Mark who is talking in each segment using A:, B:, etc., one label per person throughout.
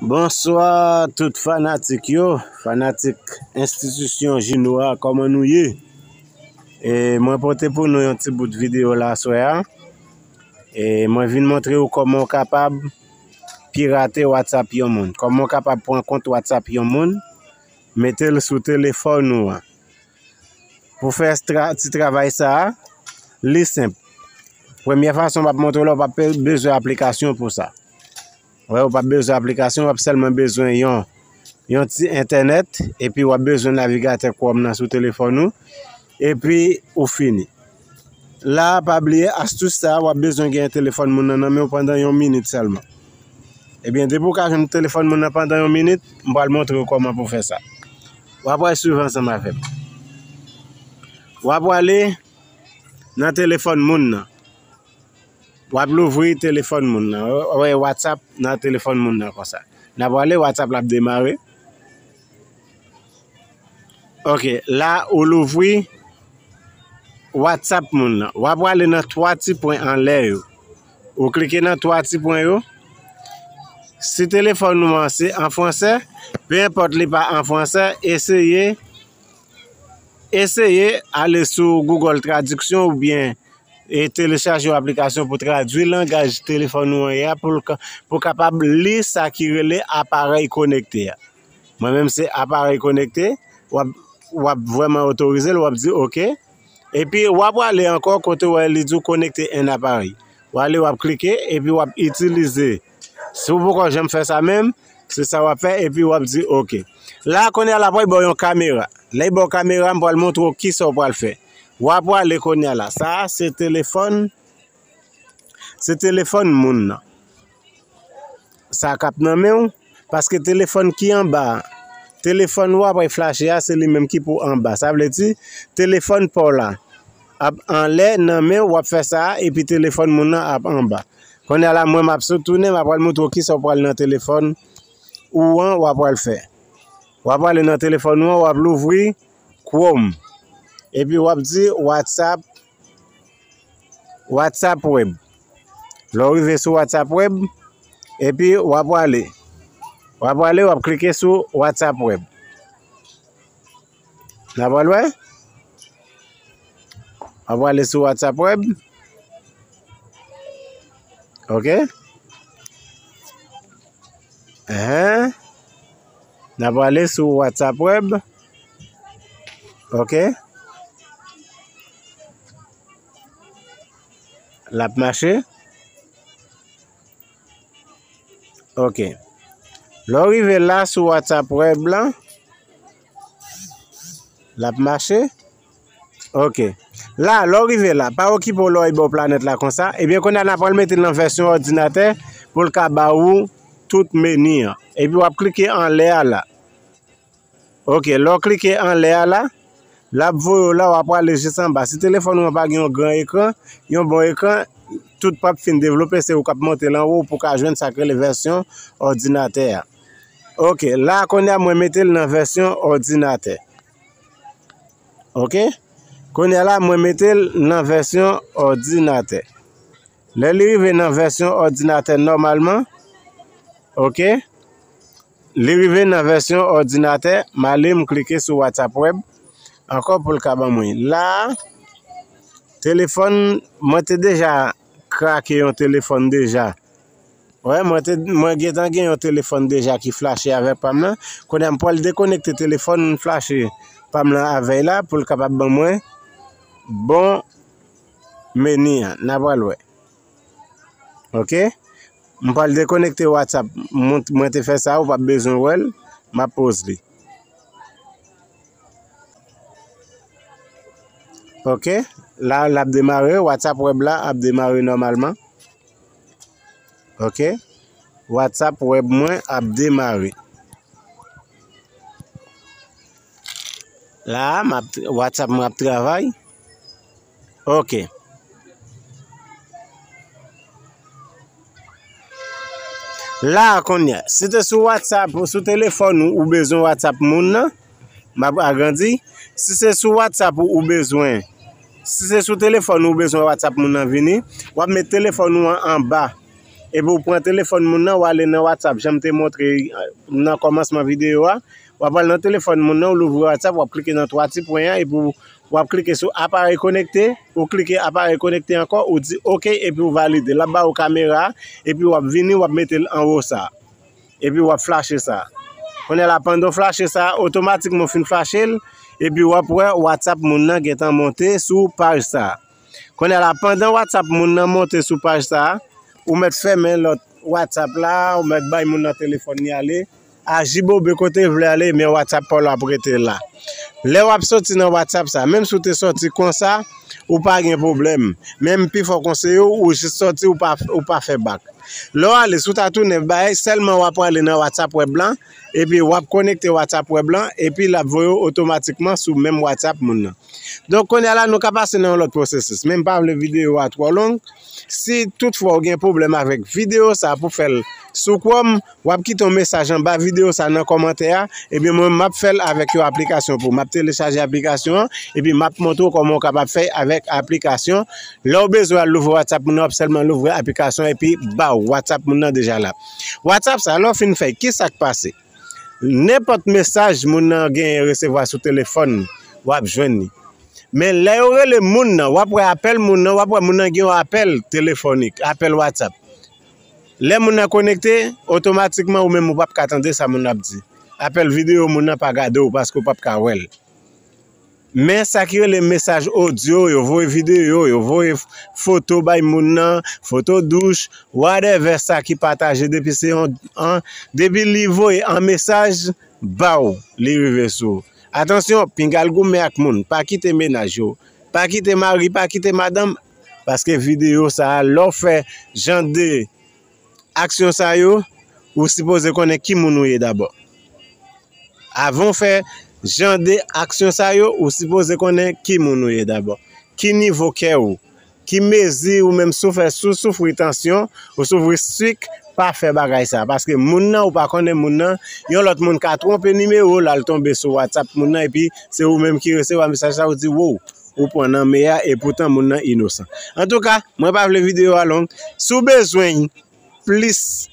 A: Bonswa tout fanatik yo, fanatik enstitisyon jino a kòman nou ye? E mwen pote pou nou yon ti bout videyo la aswè a E mwen vin montre ou kòman ou kapab pirate whatsapp yon moun Kòman ou kapab pran kont whatsapp yon moun Mete l sou telefòn ou an Pou fè ti travay sa a, li senp Premye fason m ap montre w la ou pa bezwen aplikasyon pou sa Ou pa bezwen aplikasyon, wap selman bezwen yon yon ti entènèt, epi wap bezwen navigatè kòm nan sou telefòn ou, epi ou fini. La pa bliye astus sa wap bezwen gen yon telefòn moun nan nan menw pandan yon minit selman. Ebyen depi ou ka jwenn telefòn moun nan pandan yon minit, m pral montrew kòman pou fè sa. Wap wè swiv ansanm avèm. Wap wale nan telefòn moun nan. Wap louvri telefòn moun nan. Wap wè WhatsApp nan telefòn moun nan konsa. N ap wale WhatsApp la ap demare. Ok, la ou louvri WhatsApp moun nan. Wap wale nan 3 ti pwen anlè yo. Ou klike nan 3 ti pwen yo. Si telefòn nou an se an fransè, pe enpòt li pa an fransè, eseye. Eseye ale sou Google tradiksyon ou byen e telechaje yon aplikasyon pou tradwi langaj telefòn ou an ye a pou ou kapab li sa ki rele aparèy konekte a. Mwen menm se aparèy konekte, w ap vrèman otorize l, w ap di oke. Epi w ap ale ankò kote ou wè li di w konekte 1 aparèy. W ale w ap klike epi w ap itilize. Si w poko janm fè sa menm, se sa w ap fè epi w ap di ok. La a kounye a l ap pral ba w yon kamera. Lè li ba w kamera a, m pral montre w ki sa w pral fè. W a prale kounye a la. Sa a se telefòn, se telefòn moun nan. Sa k ap nan men w, paske telefòn ki anba a, telefòn ou a ap flache a se li menm ki pou anba. Sa vle di telefòn pa w la. ap anlè nan menw wap fè sa epi telefòn moun nan ap anba konnya la mwen map sot tounen map pral moutre w kisa w pral nan telefòn ou an wap pral fè wap prale nan telefòn ou an wap louvri chrome epi wap di whatsapp whatsapp web lè w rive sou whatsapp web epi wap prale wap prale wap klike sou whatsapp web. N'a pral wè? M'a pral ale sou WhatsApp web. OK? Hein? N'a pral ale sou WhatsApp web. OK? L'a marché. OK. Lò rive la sou WhatsApp web là. L ap mache? Ok. La, lè w rive la, pa okipe w lè w ye bò planèt la konsa. Ebyen, kounye a, n apral mete l nan vèsyon òdinatè pou l ka ba ou tout meni an. Epi w ap klike anlè a la. Ok, lè w klike anlè a la, l ap voye w la, w ap prale jis anba. Si telefòn ou an pa gen yon gran ekran, yon bon ekran, tout pa p fin devlope, se ou k ap monte l anwo pou w ka jwenn sa k rele vèsyon òdinatè a. Ok, la konya mwen mete l nan vèsyon òdinatè. Ok, konya la mwen mete l nan vèsyon òdinatè. Lè li rive nan vèsyon òdinatè nòmalman, ok, li rive nan vèsyon òdinatè, ma li m klike sou WhatsApp web, ankò pou l ka ban mwen. La, telefòn, mwen te deja krake yon telefòn deja. Wè mwen te mwen gentan gen yon telefòn deja ki flache avè pam lan. Kounye a m pral dekonekte telefòn flache pam lan avè la pou l kapab ban mwen bon meni an. N a pral wè. Ok. M pral dekonekte WhatsApp. Mwen te fè sa ou pa bezwen wè l. M ap poze li. Ok. La l ap demare. WhatsApp web la ap demare nòmalman. Ok WhatsApp web mwen ap demare. La a map WhatsApp mwen ap travay. Ok. La a konya, si te sou WhatsApp ou sou telefòn ou, ou bezwen WhatsApp moun nan. M ap agrandi. Si se sou WhatsApp ou ou bezwen, si se sou telefòn ou ou bezwen WhatsApp moun nan vini, w ap met telefòn ou an anba. Epi ou pran telefòn moun nan, ou ale nan WhatsApp jan m te montre nan kòmansman videyo a. W ap al nan telefòn moun nan, ou louvri WhatsApp, w ap klike nan twa ti pwen an epi w ap klike sou aparèy konekte. Ou klike aparèy konekte ankò, ou di ok epi ou valide. L ap ba ou kamera a epi w ap vini, w ap mete l anwo sa a. Epi wap flache sa. Kounye la pandan w flache sa, otomatikman ou fin flache l, epi wap wè WhatsApp moun nan gentan monte sou paj sa. Kounye la pandan WhatsApp moun nan monte sou paj sa, ou mèt fèmen lòt WhatsApp la, ou mèt bay moun nan telefòn li ale, ajibobe kote l vle ale men WhatsApp pa w la ap rete la. Lè wap soti nan WhatsApp sa, menm si w te soti konsa, ou pa gen pwoblèm. Menm pi fò konseye w, ou jis soti ou pa fè bak. Lè w ale sou ta tounen bay, sèlman w a prale nan WhatsApp web lan, epi w ap konekte WhatsApp web lan, epi l ap voye w otomatikman sou menm WhatsApp moun nan. Donk kounye a la nou ka pase nan yon lòt pwosesis, men m pa vle videyo a twò long. Si tout fwa w gen pwoblèm avèk videyo sa pou fè l sou Chrome, Wap kite yon mesaj anba video sa nan kòmantè a, epi mwen menm map fèl avèk yon aplikasyon pou ou. Map telechaje aplikasyon an, epi map montre w kòman ou kapab fè avèk aplikasyon. Lè ou bezwen al louvri WhatsApp moun nan, wap sèlman louvri aplikasyon an epi baww WhatsApp moun nan deja la. WhatsApp sa lè ou fin fèl, kisak pase? Nenpòt mesaj moun nan genyen resevwa sou telefòn li, wap jwenn li. Men lè yo rele moun nan, wap wè apèl moun nan, wap wè moun nan gen yon apèl telefonik, apèl WhatsApp. Lè moun nan konekte, otomatikman ou menm ou pap ka tande sa moun nan ap di. Apèl videyo moun nan pa gade w paske ou pap ka wè l. Men sa ki rele mesaj odyo, yo voye videyo, yo voye foto bay moun nan, foto douch, whatever sa ki pataje depi se yon an, depi li voye an mesaj ba w, li rive sou ou. Atansyon, pinga al goumen ak moun, pa kite menaj yo, pa kite mari, pa kite madanm, Paske video sa a lè w fè jan de aksyon sa yo ou sipoze konnen ki moun ou ye dabò. Avan w fè jan de aksyon sa yo ou sipoze konnen ki moun ou ye dabò. Ki nivo kè ou. Ki mezi ou menm si w fè si w soufri tansyon ou soufri sik pa fè bagay sa. Paske moun nan ou pa konnen moun nan yon lòt moun ka twonpe nimewo l al tonbe sou whatsapp moun nan epi se ou menm ki resevwa mesaj sa ou di woww. Ou pran nan me a e poutan moun nan inosan. Antouka, mwen pa vle videyo a long. Si w bezwen yon plis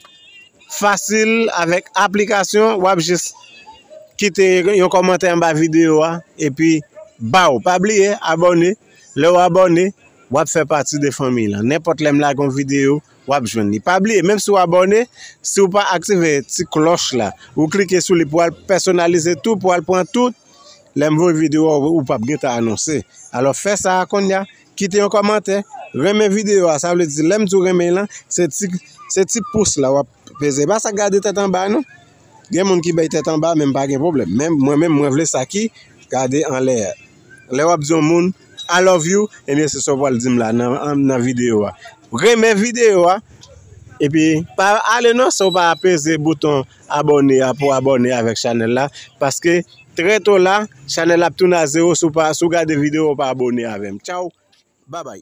A: fasil avèk aplikasyon, w ap jis kite yon kòmantè anba videyo a epi baw. Pa bliye abòne, lè w abòne, w ap fè pati de fanmiy lan. Nenpòt lè m lage yon videyo, w ap jwenn li. Pa bliye, menm si w abòne, si w pa aktive ti klòch la, ou klike sou li pou al pèsonalize tou, pou al pran tout. Lèm voye video a ou pap gentan anonse alò fè sa konnya kite yon kòmantè renmen video a sa vle di lèm di w renmen lan se ti se ti pous la wap peze pa sa gade tèt anba non gen moun ki bay tèt anba menm pa gen pwoblèm menm mwen menm mwen vle sa ki gade anlè a lè wap di yon moun I love you ebyen se sa w pwal di m la nan video a renmen video a epi pa ale nan sa w pa peze bouton. Abòne a pou abòne avèk chanèl la paske trè to la chanèl la ap tounen a zero si w pa si w gade video w pa abòne avèm tchaww babay.